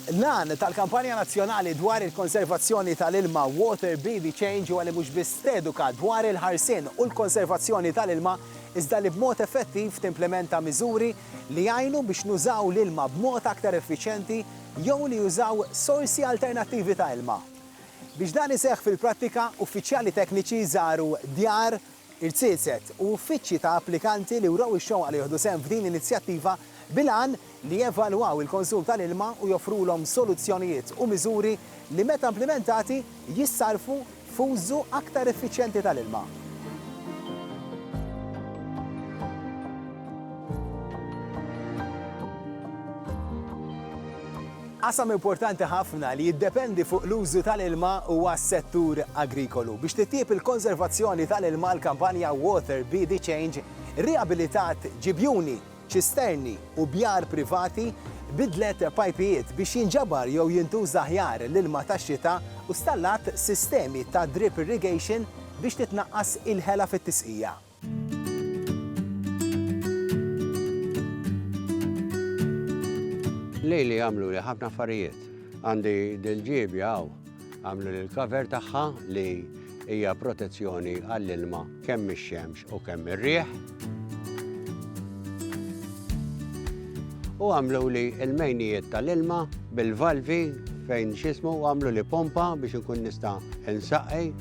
L-għan tal-kampanja nazzjonali dwar il-konservazzjoni tal-ilma Water Be the Change huwa li mhux biss teduka dwar il-ħarsien u l-konservazzjoni tal-ilma iżda li b'mod effettiv timplementa miżuri li jgħinu biex nużaw l-ilma b'mod aktar effiċjenti jew li jużaw sorsi alternattivi ta' ilma. Biex dan iseħħ fil-prattika, uffiċjali tekniċi żaru djar, irziezet u uffiċċji ta' applikanti li wrew ix-xewqa li jieħdu sehem f'din l-inizjattiva bil-għan li jevalwaw il-konsum tal-ilma u joffrulhom soluzzjonijiet u miżuri li meta implimentati jissarrfu f'użu aktar effiċjenti tal-ilma. Qasam importanti ħafna li jiddependi fuq l-użu tal-ilma huwa s-settur agrikolu. Biex titjieb il-konservazzjoni tal-ilma l-kampanja Water Be the Change rriabilitat ġibjuni, ċisterni u bjar privati, biddlet pajpijiet biex jinġabar jew jintuża aħjar l-ilma tax-xita u stallat sistemi ta' drip irrigation biex titnaqqas il-ħela fit-tisqija. Lili għamluli ħafna affarijiet. Għandi dil-ġiebja hawn għamlu l-cover tagħha li hija protezzjoni għall-ilma kemm ix-xemx u kemm ir-riħ. U għamlu li l-mejnijiet tal-ilma bil-valvi fejn xismu għamlu li pompa biex ikun nista' insaqqi.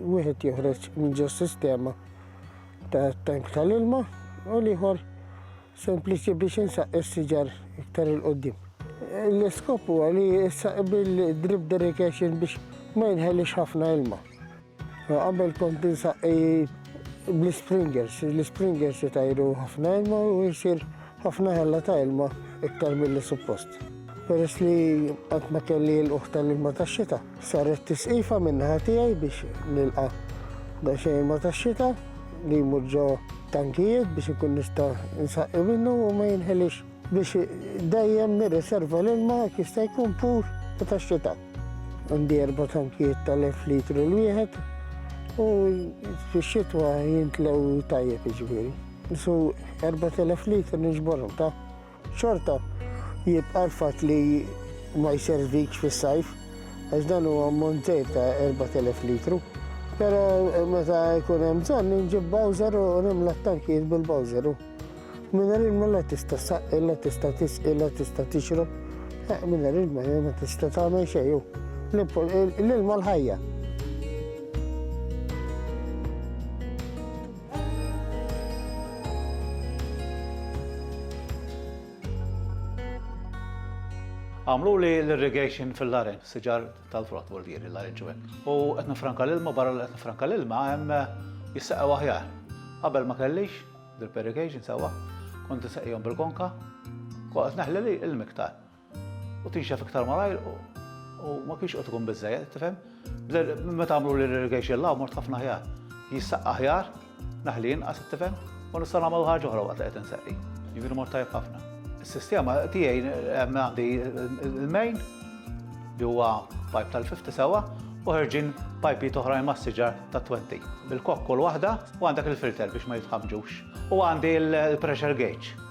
Wieħed joħroġ minn ġo sistema ta' tank tal-ilma u l-ieħor sempliċi biex insaq is-siġar iktar il-qoddim. L-iskop huwa li issaq bil-drip derrication biex ma jinħelix ħafna ilma. Qabel kont insaq bl-springers, l-springers itajru ħafna ilma u jisir ħafna ħella ta' ilma iktar mill-li suppost. Peress li qatt ma kelli l-uħta l-ilma tax-xita, Saret tisqifa min-naħa tiegħi biex nilqa' daqsxejn ilma tax-xita li jmur ġo tankijiet biex inkun nista' nsaqqi minnu u ma jinħeliex biex dejjem nirriserva l-ilma jekk jista' jkun pur u tax-xita. Għandi erba' tankijiet tal-elf litru l-wieħed u fix-xitwa jimtlew tajjeb jiġifieri. Su 4,000 litru niġborhom ta' Xorta jibqa' l-fatt li ma jservikx fis-sajf għax dan huwa ammont żgħir ta' 4,000 litru. Però meta jkun hemm bżonn inġib bowser u nimla t-tankijiet bil-bowser u mingħajr ilma la tista' ssaqqi, la tista' tisqi, la tista' tixrob. Eh, mingħajr ilma ma tista' tagħmel xejn u l-ilma l-ħajja. Għamluli l-irrigation fil-larenġ, siġar tal-frott bordieri l-larenġ u hekk. U qed nifranka l-ilma barra li qed nifranka l-ilma hemm jissaqgħu aħjar. Qabel ma kellix drip irrigation sewwa, kont insaqihom bil-konka, qed neħli l-miktar. U tinxef iktar malajr u ma kienx qed ikun biżżejjed, tifhem? Meta għamlu l-irrigation law mort ħafna ħjar. Jissaqqa ħjar, naħli inqas, tifhem? U nista' nagħmel ħaġa oħra waqt li qed inseqqi. Jiġifieri mort tajjeb ħafna. Is-sistema tiegħi għandi l-main li huwa pipe tal-50 sewwa u ħerġin pajpi toħrajn mas-siġar ta' 20 bil-kokkol waħda u għandek il-filter biex ma jitħamġux. U għandi l-pressure gauge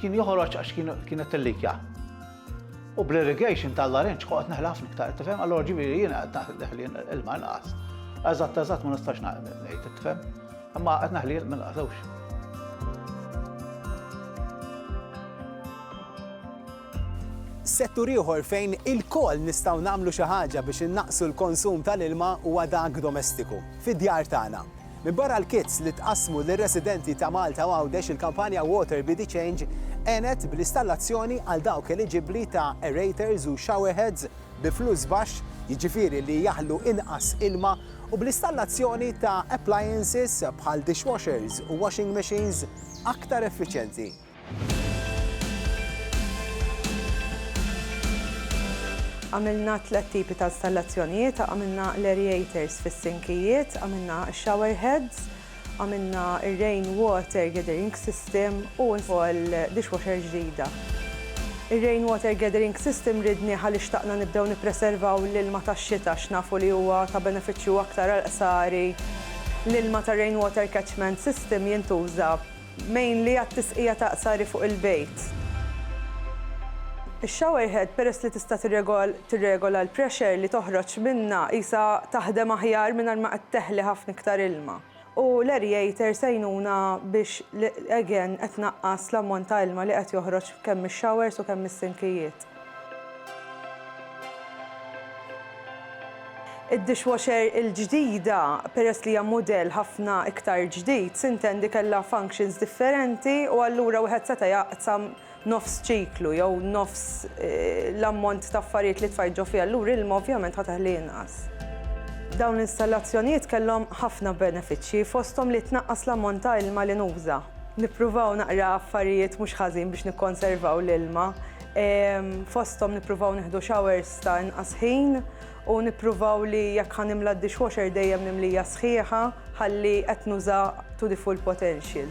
Kien joħroġ għax kienet tillikja. U bl-irrigation tal-larenċ koqgħod neħla ħafna iktar, tifhem? Allora ġifieri jiena qed neħli ilma inqas. Eżatt eżatt ma nistax ngħid, tifhem? Imma qed neħli ilma inqas Settur ieħor fejn il-koll nistgħu nagħmlu xi ħaġa biex innaqsu l-konsum tal-ilma huwa dak domestiku, fid-djar tagħna. Minbarra l-kits li tqassmu lir-residenti ta' Malta u Għawdex il-kampanja Water Be the Change għenet bl-istallazzjoni għal dawk eliġibbli ta' aerators u showerheads bi flus baxx, jiġifieri li jaħlu inqas ilma, u bl-istallazzjoni ta' appliances bħal dishwashers u washing machines aktar effiċjenti. Għamilna tliet tipi ta' installazzjonijiet, għamilna l-aereators fis-sinkijiet, għamilna x-shower heads, għamilna r-rain water gathering system u wkoll dishwasher ġdida. Ir-rain water gathering system ridnieh għaliex xtaqna nibdew nippreservaw l-ilma tax-xita għax nafu li huwa ta' benefiċċju aktar għall-qsari. L-ilma tar-rain water catchment system jintuża Mainly għat-tisqija ta' qsari fuq il-bejt. Ix-shower head peress li tista' tirregola l-pressure li toħroġ minnha qisha taħdem aħjar mingħajr ma qed teħli ħafna iktar ilma. U l-aerator se jgħinuna biex again qed tnaqqas l-ammont ta' ilma li qed joħroġ kemm mix-showers u kemm mis-sinkijiet. Id-dishwasher il-ġdida, peress li hija mudell ħafna iktar ġdid, sintendi kellha functions differenti u allura wieħed seta' jaqsam nofs ċiklu jew nofs l-ammont ta' affarijiet li tfajt ġo fiha, allura ilma ovvjament ħa teħli inqas. Dawn l-installazzjonijiet kellhom ħafna benefiċċji, fosthom li tnaqqas l-ammont ta' ilma li nuża. Nippruvaw naqra affarijiet mhux ħażin biex nikkonservaw l-ilma. Fosthom nippruvaw nieħdu showers ta' inqas ħin u nippruvaw li jekk ħanimla d-dishwasher dejjem nimlija sħiħa ħalli qed nuża to the full potential.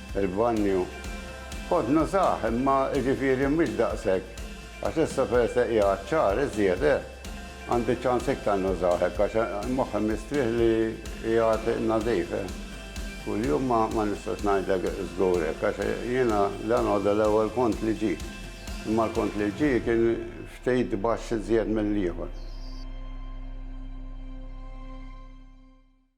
Il-banju kont nużah imma jiġifieri mhux daqshekk għax issa peress li qiegħed xahar iżjed eh, għandi ċans iktar nużah hekk għax moħħi mistrieħ li qiegħed nadif eh. Kuljum ma nistax ngħidlek żgur hekk għax jiena dalgħodu l-ewwel kont li ġie, imma l-kont li ġie kien ftit baxx iżjed mill-ieħor.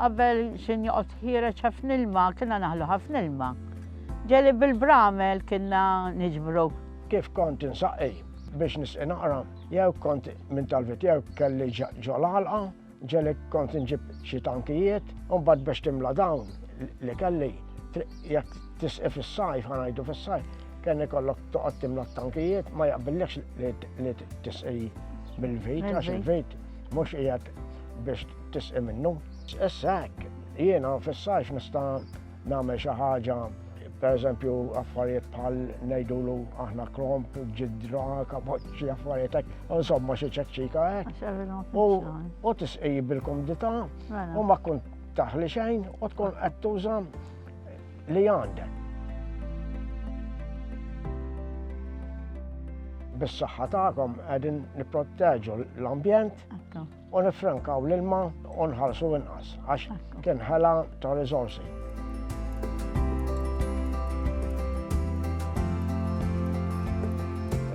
Qabel xejn joqgħod ħiereġ ħafna ilma, kienna naħlu ħafna ilma. Ġeli bil-bramel kienna niġbru. Kif kont insaqi biex nisqi naqra, jew kont minn talbit jew kelli ġol għalqa, ġeli kont nġib xi tankijiet, u mbagħad biex timla dawn li kelli jekk tisqi fis-sajf, ħanajdu fis-sajf, kien ikollok toqgħod timla t-tankijiet ma jaqbillekx li tisqi bil-vejt, għax il-vejt mhux qiegħed biex tisqi minnu. Issa hekk, jiena fis-sajf nista' nagħmel xi ħaġa per eżempju affarijiet bħal ngħidulu aħna kromp, ġidra, kapoċċi, affarijiet hekk, insomma xi ċeċċika hekk. U tisqi bil-kumdità mela. u ma tkun taħli xejn u tkun qed tuża li għandek. bis-saħħa tagħkom qegħdin nipproteġu l-ambjent U nifrankaw l-ilma u nħarsu inqas għax kien ħela ta' riżorsi.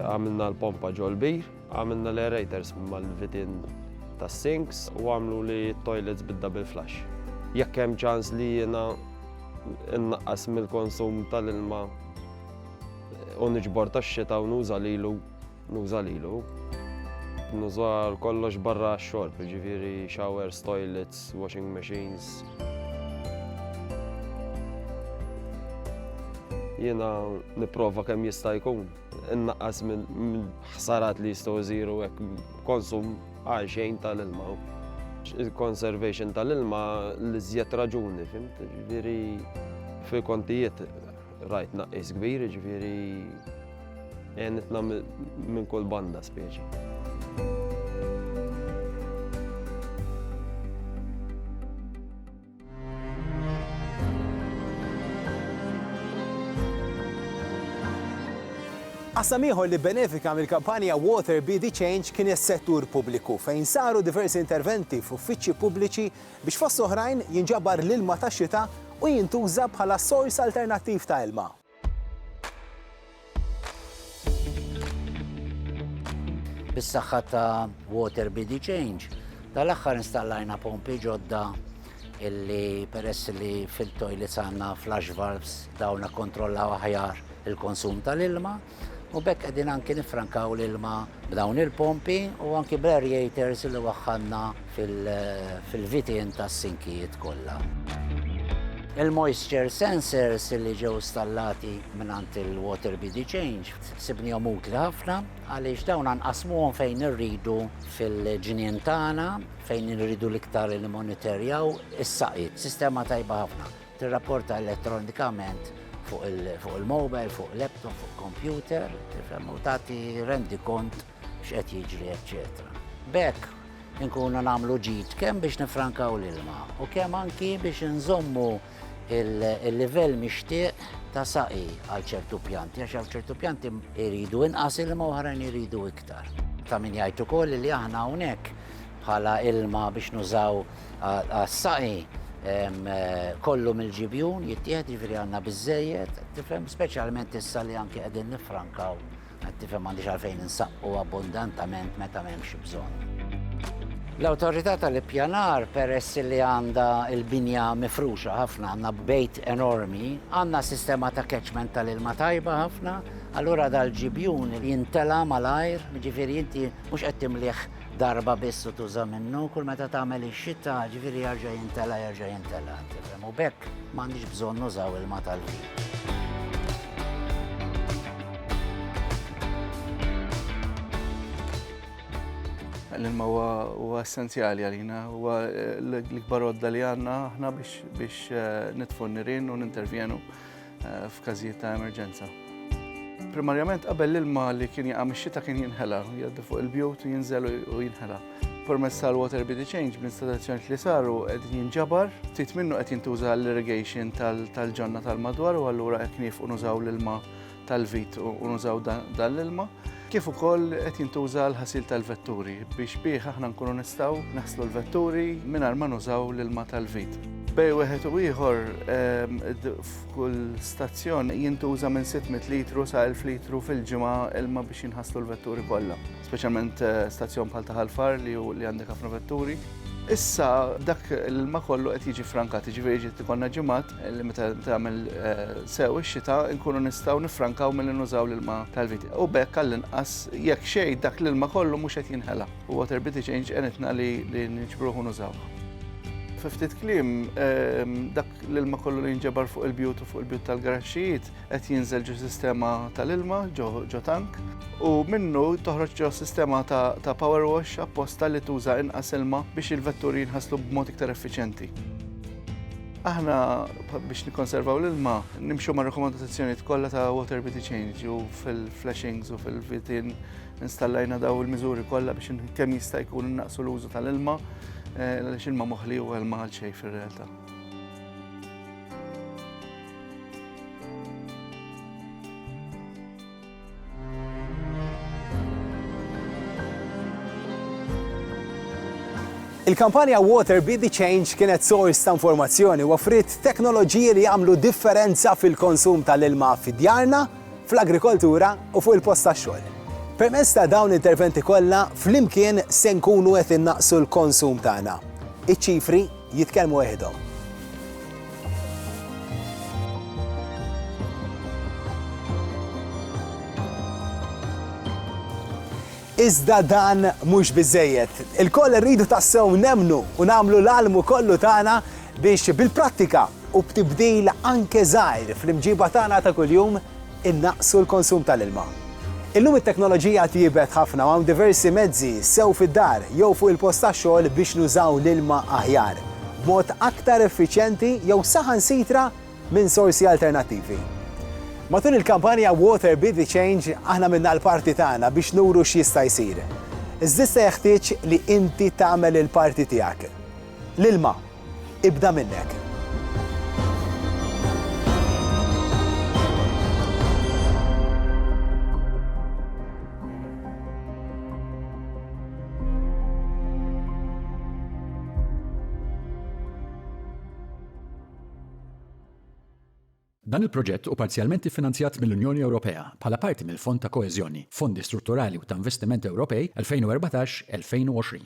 Għamilna l-pompa ġol-bir, għamilna l-aerators mal-vitin tas-sinks u għamlu li toilets bidda bil-flash. Jekk hemm ċans li jiena nnaqqas mill-konsum tal-ilma u niġbor tax-xita u nuża lilu Nuża lilu. Nuża għal kollox barra għax-xorb, jiġifieri showers, toilets, washing machines. Jiena nipprova kemm jista' jkun innaqqas minn ħsarat li jistgħu jżiru hekk konsum għal xejn tal-ilma. Il-conservation tal-ilma l-iżjed raġuni, fimt? Jiġifieri fil-kontijiet Rajt naqqis kbir, ġifieri għenitna minn kull banda speċi. Qasam ieħor li benefika mill-kampanja Water Be the Change kien is-settur pubbliku fejn saru diversi interventi f'uffiċċji pubbliċi Biex fost oħrajn jinġabar l-ilma tax-xita u jintuża bħala sors alternattiv ta' ilma. Bis-saħħa ta' Water BD Change, tal-aħħar installajna pompi ġodda illi peress li fil-toilets għandna flush valves dawn kontrollaw aħjar il-konsum tal-ilma. U b'hekk qegħdin anki niffrankaw l-ilma b'dawn il-pompi u anki bl-aerators li waħħalna fil-vitien tas-sinkijiet kollha. Il-moisture sensors li ġew stallati mingħand il-Water BD Change sibnihom utli ħafna għaliex dawn nqasmuhom fejn irridu fil-ġnien tagħna fejn irridu l-iktar li monitorjaw is-saqi. Sistema tajba ħafna. Tirrapporta elettronikament fuq il-mobile, fuq laptop, fuq computer, tifhem u tagħti rendi kont x'qed jiġri, eċċetera. Bekk inkunu nagħmlu ġid kemm biex nifrankaw l-ilma u kemm anki biex nżommu il-livell mixtieq ta' saqi għal ċertu pjanti, għax għal ċertu pjanti iridu inqas ilma oħrajn iridu iktar. Ta' min jgħid ukoll li aħna hawnhekk bħala ilma biex nużaw għas-saqi kollu mill-ġibjun jittieħed, jiġifieri għandna biżżejjed, tifhem, speċjalment issa li anke qegħdin niffrankaw, qed tifhem m'għandix għalfejn insaqqu abbundantament meta m'hemmx bżonn. L-Awtorità tal-Ippjanar peress li għandha l-binja mifruxa ħafna, għandna bejt enormi, għandna sistema ta' catchment tal-ilma tajba ħafna, allura dal-ġibjun jintela' malajr, jiġifieri inti mhux qed timlih darba biss u tuża minnu, kull meta tagħmel ix-xita, ġifieri jarġa' jintela' jerġa' jintela', tifhem, u b'hekk m'għandniex bżonn nużaw ilma tal-ħin. L-ilma huwa essenzjali għalina, huwa l-ikbar għodda li għandna aħna biex nitfu n-nirien u nintervjenu eh, f'każijiet ta' emerġenza. Primarjament qabel l-ilma li kien jaqa' mix-xita kien jinħela, jgħaddi fuq il-bjut u jinżel u jinħela. Permezz tal-water bid change b'installazzjonijiet li saru qed jinġabar, ftit minnu qed jintuża l-irrigation tal-ġonna tal-madwar u allura qed nieqfu nużaw l-ilma tal-vit u nużaw dan l-ilma. kif ukoll qed jintuża għal ħasil tal-vetturi biex bih aħna nkunu nistgħu naħslu l-vetturi mingħajr ma nużaw l-ilma tal-vit. Bej wieħed u ieħor ehm, f'kull stazzjon jintuża minn 600 litru sa 1000 litru fil-ġimgħa ilma biex jinħaslu l-vetturi kollha, speċjalment eh, stazzjon bħal taħal far li għandek ħafna vetturi. Issa dak l-ilma kollu qed jiġi frankat, jiġifieri ġiet ikollna ġimgħat li meta tagħmel sew ix-xita nkunu nistgħu nifrankaw milli nużaw l-ilma tal-viti. U bekk għall-inqas jekk xejn dak l-ilma kollu mhux qed jinħela. U water bit change għenitna li niġbruh u nużaw. Fi ftit kliem, ehm, dak l-ilma kollu li jinġebar fuq il-bjut u fuq il-bjut tal-garaxxijiet qed jinżel ġo sistema tal-ilma ġo tank u minnu toħroġ ġo sistema ta' power wash apposta li tuża inqas ilma biex il-vetturi jinħaslu b'mod iktar effiċenti. Aħna biex nikkonservaw l-ilma nimxu ma' rekomandazzjonijiet kollha ta' water bidi change u fil-flashings u fil-vitin installajna daw il-miżuri kollha biex kemm jista' jkun naqsu l-użu tal-ilma eh, għaliex ilma moħli u ilma għal xejn fir-realtà. Il-kampanja Water Be the Change kienet sors ta' informazzjoni u offriet teknoloġiji li jagħmlu differenza fil-konsum tal-ilma fi djarna, fl-agrikoltura u fuq il-post tax-xogħol. Permezz ta' dawn l-interventi kollha, flimkien se nkunu qed innaqsu l-konsum tagħna. Iċ-ċifri Jitkellmu weħidhom. Iżda dan mhux biżżejjed. Ilkoll irridu tassew nemmnu u nagħmlu l-almu kollu tagħna biex bil-prattika u b'tibdil anke żgħir fl-imġiba tagħna ta' kuljum, Innaqqsu l-konsum tal-ilma. Illum it-teknoloġija tjiebet ħafna u hawn diversi mezzi, sew fid-dar jew fuq il-post tax-xogħol biex nużaw l-ilma aħjar, b'mod aktar effiċjenti jew saħansitra minn sorsi alternattivi. Matul il-kampanja Water Be the Change aħna għamilna l-parti tagħna biex nuru x'jista' jsir. Iżda issa jeħtieġ li inti tagħmel il-parti tiegħek. L-ilma. Ibda minnek. Dan il-proġett hu parzjalment iffinanzjat mill-Unjoni Ewropea bħala parti mill-Fond ta' Koeżjoni, Fondi Strutturali u ta' Investiment Ewropej 2014-2020.